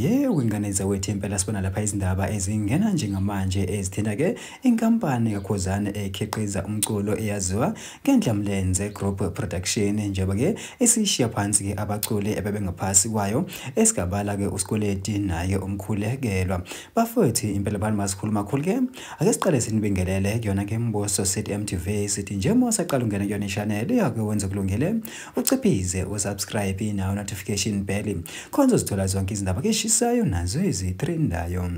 Yebo ingane zawethu impela sibona lapha izindaba ezingena njengamanje ezithinta ke inkampani kaKhuzane ekhiqiza umculo eyaziwa ngendlamlenze Group Production njengoba ke isishiya phansi ke abaculi ebebengaphasi kwayo esigabala ke uSkoleti naye umkhulekelwa bafowethu impela bani masikhuluma khulu ke Ake siqale sinibingelele kuyona ke mbuso sithi MTV sithi njengoba usaqala ungena kuyona i-channel yakhe wenze kulungele uciphize usubscribe nawo notification bell khonza uzithola zonke izindaba ke eshisayo nazo ezitrendayo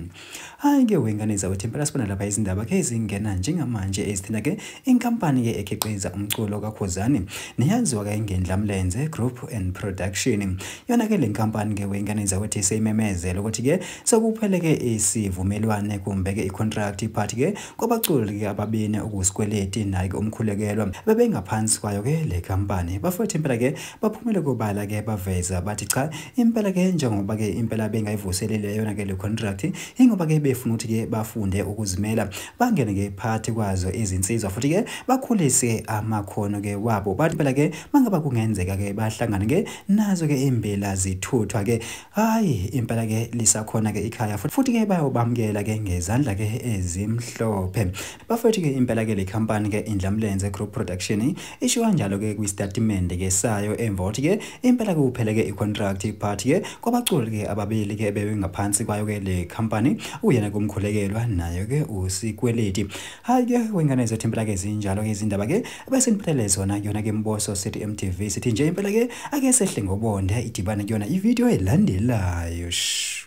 hayi ke wengane zawethu impela sibona lapha izindaba ke ezingena njengamanje ezithinta ke inkampani ke ekhiqiza umculo kakhuzani neyaziwa ke ngendla mlenze group and production yona ke le nkampani ke wengane zawethu seyimemezela ukuthi ke Sekupheleke isivumelwane kumbeke icontract but ke kwabaculi ke ababene okusikweleti naye ke umkhulekelwa bebengaphansi kwayo ke le company bafowethu impela ke baphumele kobala ke baveza bathi cha impela ke njengoba ke impela bengayivuselele yona ke le contract ingoba ke befuna ukuthi ke bafunde ukuzimela bangene ke phakathi kwazo izinsizwa futhi ke bakhulise amakhono ke wabo bathi impela ke mangaba kungenzeka ke bahlangane ke nazo ke imbela zithuthwa ke Hayi impela ke lisakhona ke ikhaya futhi ke bayobamukela ke ngezandla ke ezimhlophe. Bafethu ke impela ke le company ke Indlamlenze Group Production isho kanjalo ke kwistatimende ke sayo emva kokuthi ke impela ke kuphele ke icontract part ke kwabaculi ke ababili ke bebengaphansi kwayo ke le company uyena kumkhulekelwa nayo ke usikweleti. Hayi ke wengane zethu impela ke zinjalo ke izindaba ke bese niphelele zona kuyona ke mboso sithi mtv sithi nje impela ke ake sehle ngobonde idibane kuyona ividiyo elandelayo shh